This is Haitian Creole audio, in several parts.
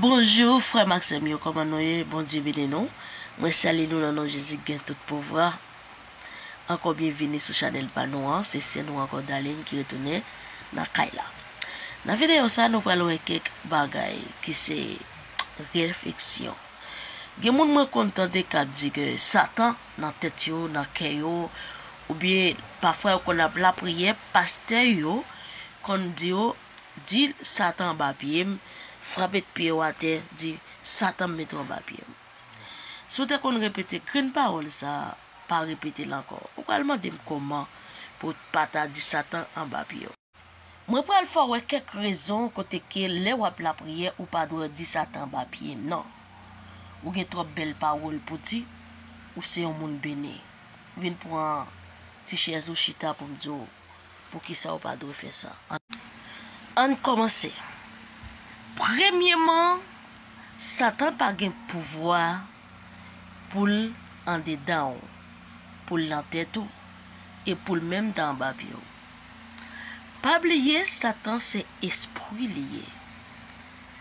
Bonjour frèm ak sèm yo kòman nou ye bondye beni nou mwen salye nou nan non jezi ki gen tout pouvwa ankò byen vini sou chanèl pa nou an se sè nou ankò Darline ki retounen nan kay la nan videyo sa nou pral wè kèk bagay ki se refleksyon. Gen moun mwen konn tande k ap di ke satan nan tèt yo, nan kè yo, oubyen pafwa yo konn ap lapriyè, pastè yo konn di yo, di satan anba pye m, frape pye w atè, di satan m mete w anba pye m. Si w te konn repete grenn pawòl sa, pa repete l ankò. Ou pral mande m kòman pou w pa ta di satan anba pye w. Mwen pral fè w wè kèk rezon kote ke lè wap lapriyè ou pa dwè di satan anba pye nan. Ou gen twòp bèl pawòl pou di, ou se yon moun beni. Vin pran ti chèz ou chita pou m di w poukisa ou pa dwe fè sa. Ann kòmanse. Premyeman, satan pa gen pouvwa pou l andedan w, pou l nan tèt ou, e pou l menm ta anba pye w. Pa bliye satan se espri li ye.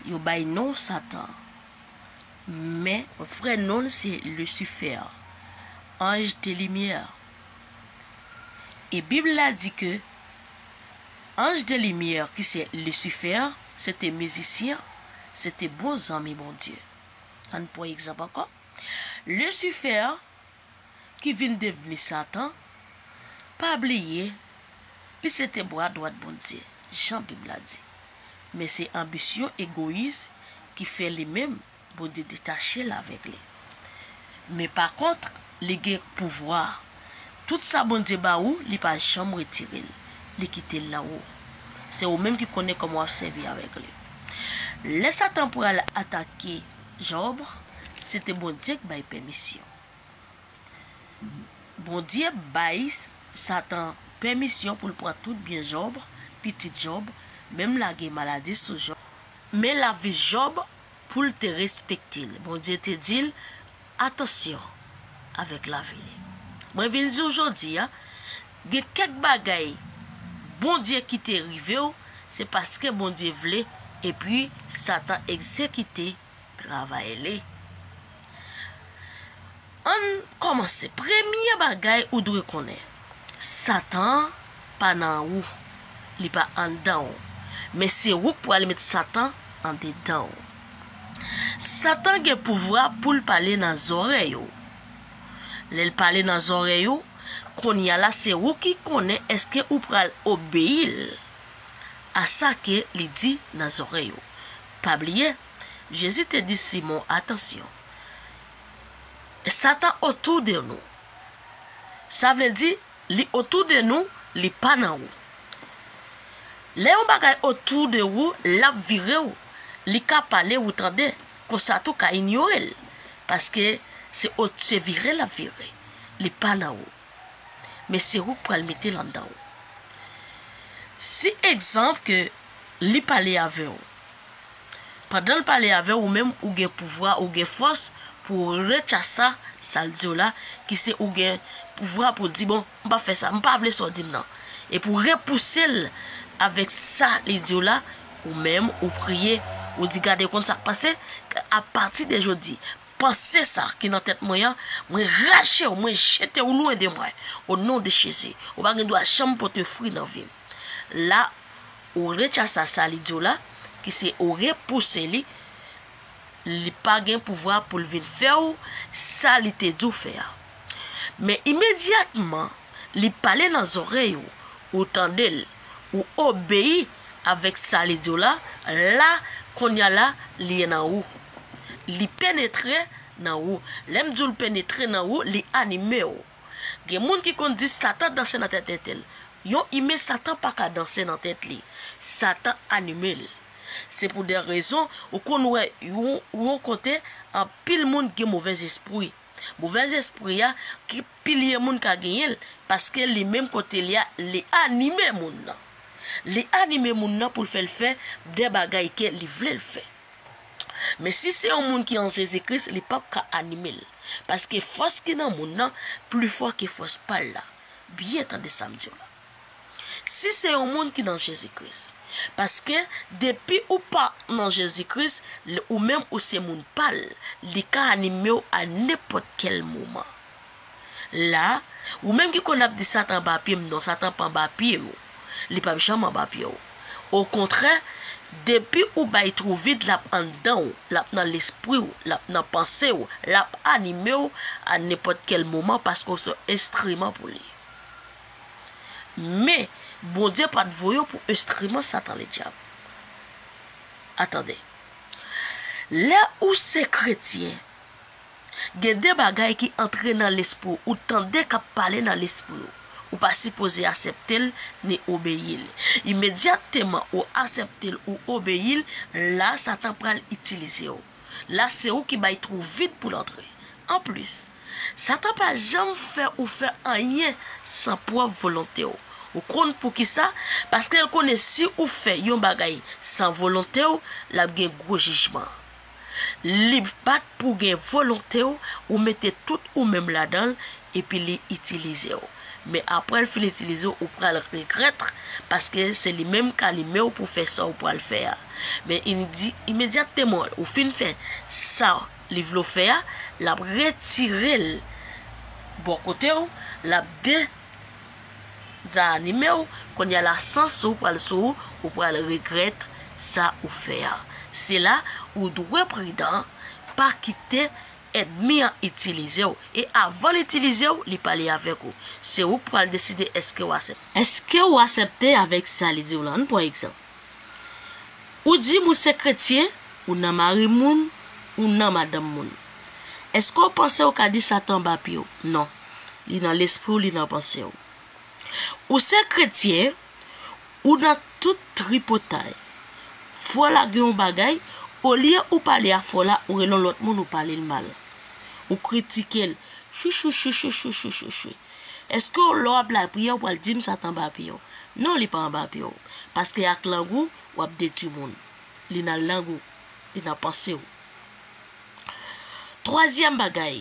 Yo bay non satan. Men vrè non l se Lucifer. Anj de limyè. E bib la di ke anj de limyè ki se Lucifer se te mizisyen, se te bon zanmi Bondye. Ann pran egzanp ankò. Lucifer ki vin devni Satan, pa bliye li se te bra dwat Bondye, jan Bib la di. Men se anbisyon egoyis ki fè li menm Bondye detache l avèk li. Men pakontre, li gen pouvwa. Tout sa Bondye ba ou, li pa janm retire l, li kite l nan ou. Se ou menm ki konnen kòman w ap sèvi avèk li. Lè Satan pral atake Jòb, se te Bondye k bay pèmisyon. Bondye bay Satan pèmisyon pou l pran tout byen Jòb, pitit Jòb, menm lage maladi sou Jòb. Men lavi Jòb pou l te respekte l. Bondye te di l, Atansyon avèk lavi li. Mwen vin di w jodi a, gen kèk bagay Bondye kite rive w, se paske Bondye vle epi Satan egzekite. Travay li. Ann kòmanse. Premye bagay ou dwe konnen. Satan an pa nan ou. Li pa anndan ou. Men se ou k pral met satan andedan ou. Satan gen pouvwa pou l pale nan zòrèy ou. Lè l pale nan zòrèy ou, kounye a la se ou ki konnen èske ou pral obeyi l a sa ke li di nan zòrèy ou. Pa bliye, Jezi te di Simon, Atansyon! Satan otou de nou. Sa vle di, li otou de nou, li pa nan ou. Lè yon bagay otou de ou, l ap vire ou. Li ka pale ou tande, konsa tou ka inyore l, paske se vire l ap vire, li pa nan ou. Men se ou k pral mete l anndan ou. Si egzanp ke li pale avè ou. Pandan l pale avè ou menm ou gen pouvwa, ou gen fòs pou w rechasa sa l di w la ki se ou gen pouvwa pou w di bon m pa fè sa, m pa vle sa w di m nan. E pou w repouse l avèk sa li di w la, ou menm ou priye, ou di gade w konn sa k pase, apati de jodi Panse sa ki nan tèt mwen an, mwen rache ou, mwen jete ou lwen de mwen, o non de Jezi. Ou pa gen dwa janm pote fri nan vi m. La, ou rechasa sa li di w la, ki se ou repouse li, li pa gen pouvwa pou l vin fè ou sa li te di w fè a. Men imedyatman, li pale nan zòrèy ou, ou tande l. ou obeyi avèk sa li di w la, la, kounye a la, li ye nan ou. Li penetre nan ou. Lè m di w l penetre nan ou, li anime w. Gen moun ki konn di Satan danse nan tèt tete l. Yon imen Satan pa ka danse nan tèt li. Satan anime l. Se pou de rezon ou konn wè yon kote anpil moun gen movèzespri. Movèzespri a ki Pilye moun ka genyen l, paske li menm kote li a, li anime moun nan. Li anime moun nan pou l fè l fè de bagay ke li vle l fè. Men si se yon moun ki an Jezi Kris, li pap ka anime l, paske fòs ki nan moun nan pli fò ke fòs pa l la. Byen tande sa m di w la. Si se yon moun ki nan Jezi Kris. Paske, depi ou pa nan Jezi Kris, l, ou menm ou se moun pa l, li ka anime w a nenpòt kèl moman. La, ou menm ki konn ap di Satan anba pye m, non, Satan pa anba pye ou. Li p ap janm anba pye ou. Okontrè, depi ou bay twou vid, l ap anndan ou, l ap nan lespri ou, l ap nan panse ou, l ap anime ou a nenpòt kèl moman paske ou se yon enstriman pou li. Men, Bondye pa t voye yo pou enstriman Satan Ledyab. A Tande. Lè ou se kretyen, gen de bagay ki antre nan lespri w, ou tande k ap pale nan lespri w. Ou pa sipoze asepte l ni obeyi l. Imedyatteman ou asepte l, ou obeyi l, la a Satan pral itilize w. La a se ou ki bay twou vid pou l antre. Anplis, Satan pa janm fè ou fè anyen san pwòp volonte w. Ou konn poukisa? Paske l konnen si ou fè yon bagay san volonte w, l ap gen gwo jijman. Li bat pou w gen volonte w, ou mete tout ou menm ladan l, epi li itilize w. Men apre l fin itilize w, ou pral regrèt, paske se li menm k alime w pou w fè sa w pral fè a. Men imedyatteman ou fin fè sa, Li vle w fè a, l ap retire l bò kote w, l ap dezanime w, kounye a la sans ou pral sou ou, ou pral regrèt sa ou fè a. Se la ou dwe pridan, pa kite èdmi an itilize w, e avan l itilize w, li pale avèk ou. Se ou k pral deside èske w asepte. Èske ou asepte avèk sa li di w lan? Ann pran egzanp. Ou dim ou se kretyen, ou nan mari moun, ou nan madanm moun. Eske w panse ou ka di Satan anba pye w? Non. Li nan lespri w, li nan panse w. Ou se kretyen, ou nan tout tripotay. Fò w lage yon bagay, olye ou pale a fò w la, ou rele yon lòt moun ou pale l mal. Ou kritike l, chouchouchouchouchouchouchouchou. Eske w lè w ap lapriyè ou pral di m sa t anba pye w? Non li pa anba pye w. Paske ak lang ou, w ap detui moun. Li nan lang ou. Li nan panse w. Twazyèm bagay,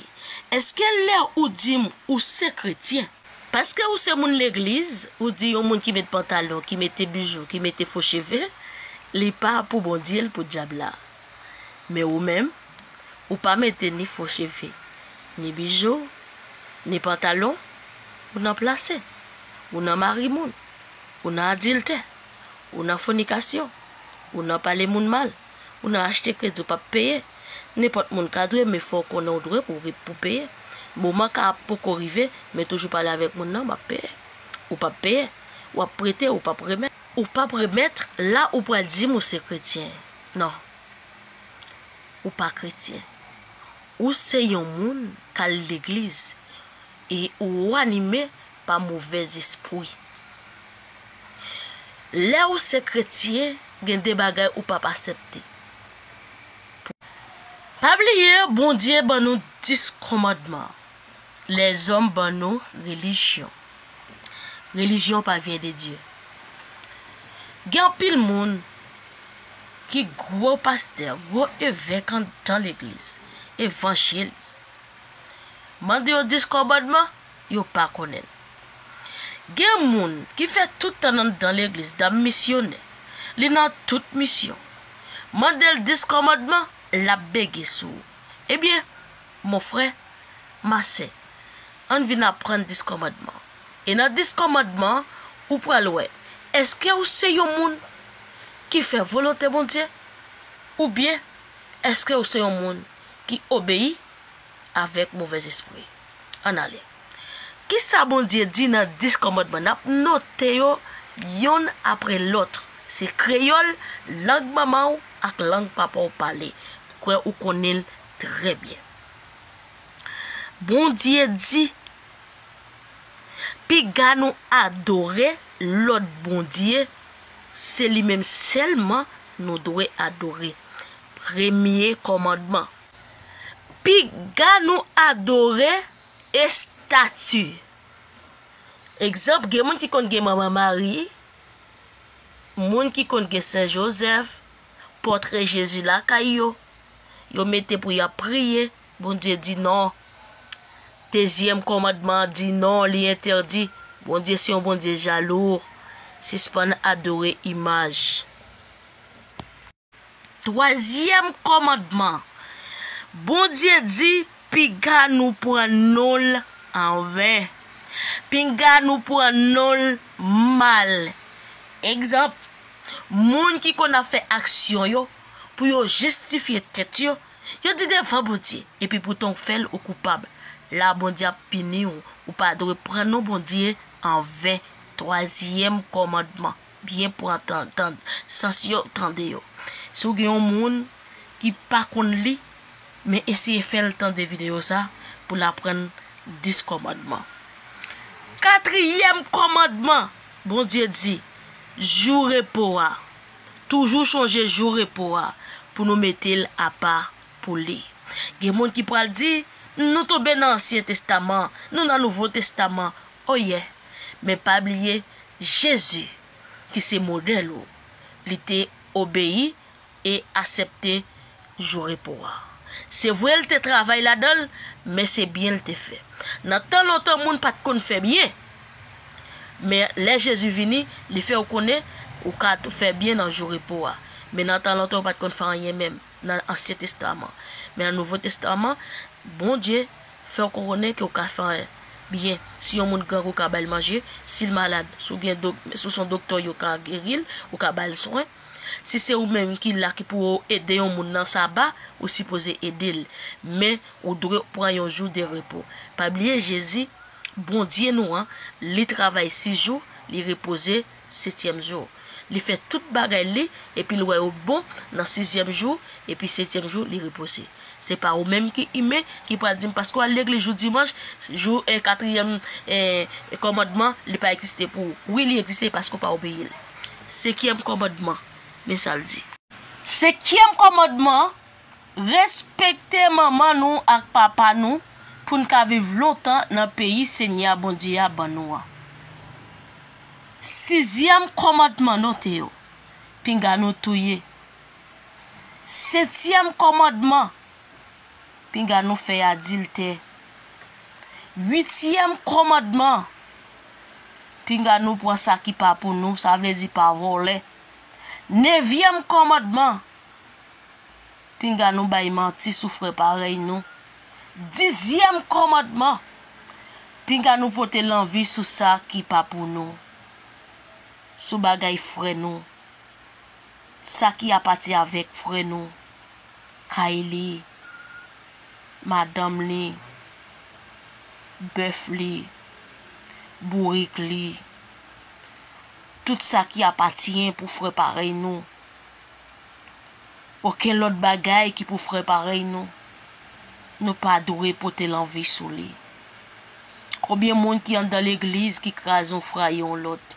eske lè ou di m ou se kretyen. Paske ou se moun legliz, ou di yon moun ki met pantalon, ki mete bijou, ki mete fo cheve, li pa pou Bondye, li pou dyab la. Men ou menm, ou pa mete ni fo cheve, ni bijou, ni pantalon, ou nan plase, ou nan mari moun, ou nan adiltè, ou nan fonikasyon, ou nan pale moun mal, ou nan achte kredi ou pap peye, nenpòt moun ka dwe men fòw konnen ou dwe pou pou peye, moman ka ap poko rive men toujou pale avèk moun nan map peye, ou pap peye, wap prete ou pap remèt. Ou pap remèt la ou pral dim ou se kretyen. Non. Ou pa kretyen. Ou se yon moun k al legliz e ou anime pa movè zespri. Lè ou se kretyen, gen de bagay ou p ap asepte. Pa bliye Bondye ban nou dis kòmandman. Lèzòm ban nou relijyon. Relijyon pa vyen de Dye. Gen anpil moun ki gwo pastè, gwo evèk anndan legliz, evanjelis. Mande yo diskòbòdman, yo pa konnen l. Gen moun ki fè tout tan l anndan legliz, dam misyonè, li nan tout misyon. Mande l diskòmòdman, l ap bege sou ou. Ebyen, Mon frè, ma sè, ann vin aprann Dis Kòmandman. E nan Dis Kòmandman, ou pral wè èske ou se yon moun ki fè volonte Bondye oubyen èske ou se yon moun ki obeyi avèk movèzespri. Ann ale. Kisa Bondye di nan Dis Kòmandman? N ap note yo youn apre lòt. Se kreyòl, lang manman ou ak lang papa ou pale. M kwè ou konnen l Trè byen. Bondye di, Piga nou adore lòt bondye, se li menm sèlman nou dwe adore. Premye kòmandman. Piga nou adore estati. Egzanp, gen moun ki konn gen Manman Mari, moun ki konn gen Sen Jozèf, pòtre Jezi lakay yo, yo mete pou y ap priye, Bondye di non. Dezyèm kòmandman an di non, li entèdi, Bondye se yon Bondye jalou, sispann adore imaj. Twazyèm kòmandman, Bondye di Piga nou pran non l anven. Pinga nou pran non l mal. Egzanp, Moun ki konn ap fè aksyon yo pou yo jistifye tèt yo, yo di devan Bondye, epi poutan w fè l ou koupab. La Bondye ap pini w, ou pa dwe pran non Bondye anven. Twazyèm kòmandman. Byen pran tan tand sans yo, tande yo. Si w gen yon moun ki pa konn li, men eseye fè l tande videyo sa pou l aprann dis kòmandman. Katriyèm kòmandman, Bondye di, Jou repo a, toujou chonje jou repo a pou nou mete l apa pou li. Gen moun ki pral di, Nou tonbe nan Ansyen Testaman, nou nan Nouvo Testaman. Oh yeah men pa bliye Jezi ki se modèl ou li te obeyi e asèpte jou repo a. Se vre l te travay ladan l men se byen l te fè. Nan tan lontan moun pat konn fè byen men lè Jezi vini li fè ou konnen ou ka tou fè byen nan jou repo a men nan tan lontan yo pat konn fè anyen menm. nan ansyen testaman men nan nouvo testaman Bondye fèw konnen ke ou ka fè byen si yon moun grangou ka bal manje sil malad si ou gen si ou son doktè yo ka geril ou ka bal swen si se ou menm ki la ki pou ou ede yon moun nan saba ou sipoze edel men ou dwe pran yon jou de repo pa bliye Jezi Bondye nou an li travay 6 jou li repoze setyèm jou. Li fè tout bagay li, epi l wè yo bon nan sizyèm jou, epi setyèm jou li repoze. Se pa ou menm ki imen ki pral di m paske w al legliz jou dimanch, jou katriyèm kòmandman li pa egziste pou ou. Wi li egziste paske w pa obeyi l. Senkyèm kòmandman, men sa l di. Senkyèm kòmandman an, Respekte manman nou ak papa nou pou n ka viv lontan nan peyi Senyè a Bondye a ban nou an. Sizyèm kòmandman Note yo, Pinga nou touye Setyèm kòmandman Pinga nou fè adiltè Uityèm kòmandman Pinga nou pran sa ki pa pou nou, sa vle di pa vòlè Nevyèm kòmandman Pinga nou bay manti sou frè parèy nou. Dizyèm kòmandman, Pinga nou pote lanvi sou sa ki pa pou nou, sou bagay frè nou, sa ki apati avèk frè nou, kay li, madanm li, bèf li, bourik li, tout sa ki apatyen pou frè parèy nou. Oken lòt bagay ki pou frè parèy nou, nou pa dwe pote lanvi sou li. Konbyen moun ki anndan legliz ki kraze yon frè a yon lòt,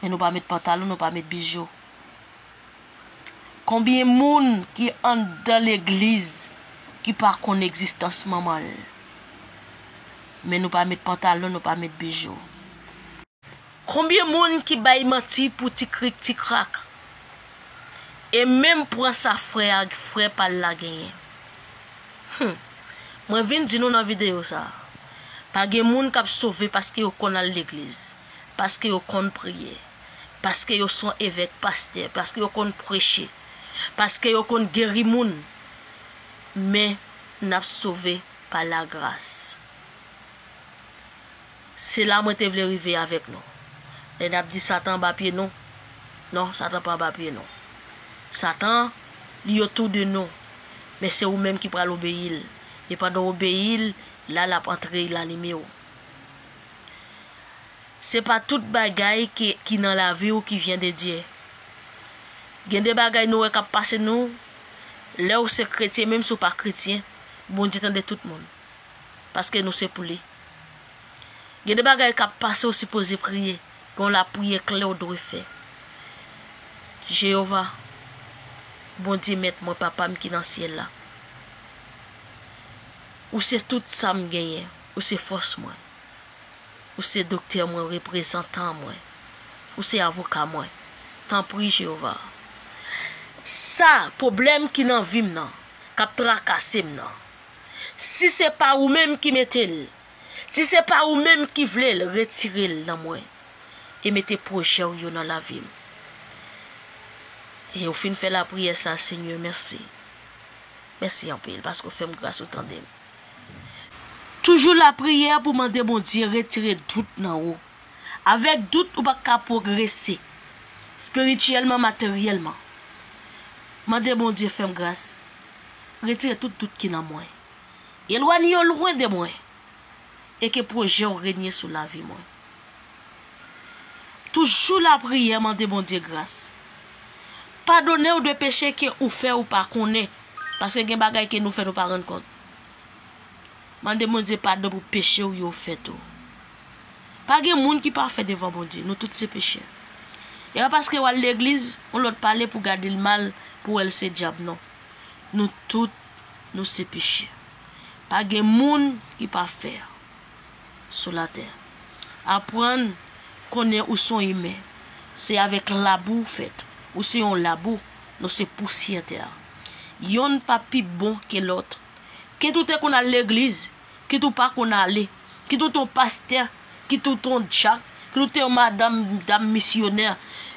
men nou pa met pantalon, nou pa met bijou? Konbyen moun ki anndan legliz ki pa konn egzistans manman l, men nou pa met pantalon, nou pa met bijou? Konbyen moun ki bay manti pou ti krik ti krak e menm pran sa frè a frè pal la genyen humm mwen vin di nou nan videyo sa pa gen moun kap sove paske yo konn al legliz paske yo konn priye paske yo son evèk pastè paske yo konn preche paske yo konn geri moun men nap sove pa la gras. Se la mwen te vle rive avèk nou. Lè n ap di Satan anba pye nou, non, Satan pa anba pye nou. Satan, li otou de nou, men se ou menm ki pral obeyi l, e pandan w obeyi l, la l ap antre e l anime w. Se pa tout bagay ke ki nan lavi w ki vyen de Dye. Gen de bagay nou wè k ap pase nou, lè w se kretyen menm si w pa kretyen, Bondye tande tout moun, paske nou se pou li. Gen de bagay kap pase ou sipoze priye, gen yon lapriyè kle ou dwe fè. Jeyova, Bondye mèt mwen, Papa m ki nan syèl la, ou se tout sa m genyen, ou se fòs mwen, ou se doktè mwen, reprezantan mwen, ou se avoka mwen. Tanpri Jeyova, sa, pwoblèm ki nan vi m nan, kap trakase m nan, Si se pa ou menm ki mete l, si se pa ou menm ki vle l, retire l nan mwen e mete pwojè w yo nan lavi m. E ou fin fè lapriyè sa, Senyè, mèsi. Mèsi anpil paske ou fè m gras, ou tande m. Toujou lapriyè pou mande Bondye retire dout nan ou. Avèk dout ou pa ka pwogrese spirityèlman, materyèlman. Mande Bondye fè m gras. Retire tout dout ki nan mwen. Elwanye yo lwen de mwen. E ke pwojè w renye sou lavi mwen. Toujou lapriyè mande Bondye gras. Padone w de peche ke ou fè ou pa konnen. Paske gen bagay ke nou fè nou pa rann kont. Mande Bondye padon pou peche ou yo fèt ou. Pa gen moun ki pafè devan Bondye, nou tout se pechè. E pa paske wal legliz, yon lòt pale pou gadel mal, pou wèl se dyab non. Nou tout nou se pechè. Pa gen moun ki pafè sou latè. Aprann konnen ou son imen, se avèk labou ou fèt, ou se yon labou, nou se pousyè tè. Yonn pa pi bon ke lòt Kit ou te konn al legliz, kit ou pa konn ale, kit ou te yon pastè, kit ou te yon dyak, kit ou te yon madanm, dam misyonè,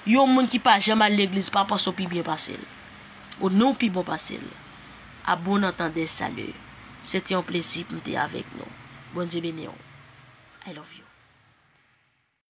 yon moun ki pa janm al legliz pa panse w pi byen pase l. Ou ni w pi bon pase l. A bon antandè salut. Se te yon plezi pou m te avèk nou. Bondye beni w. I love you.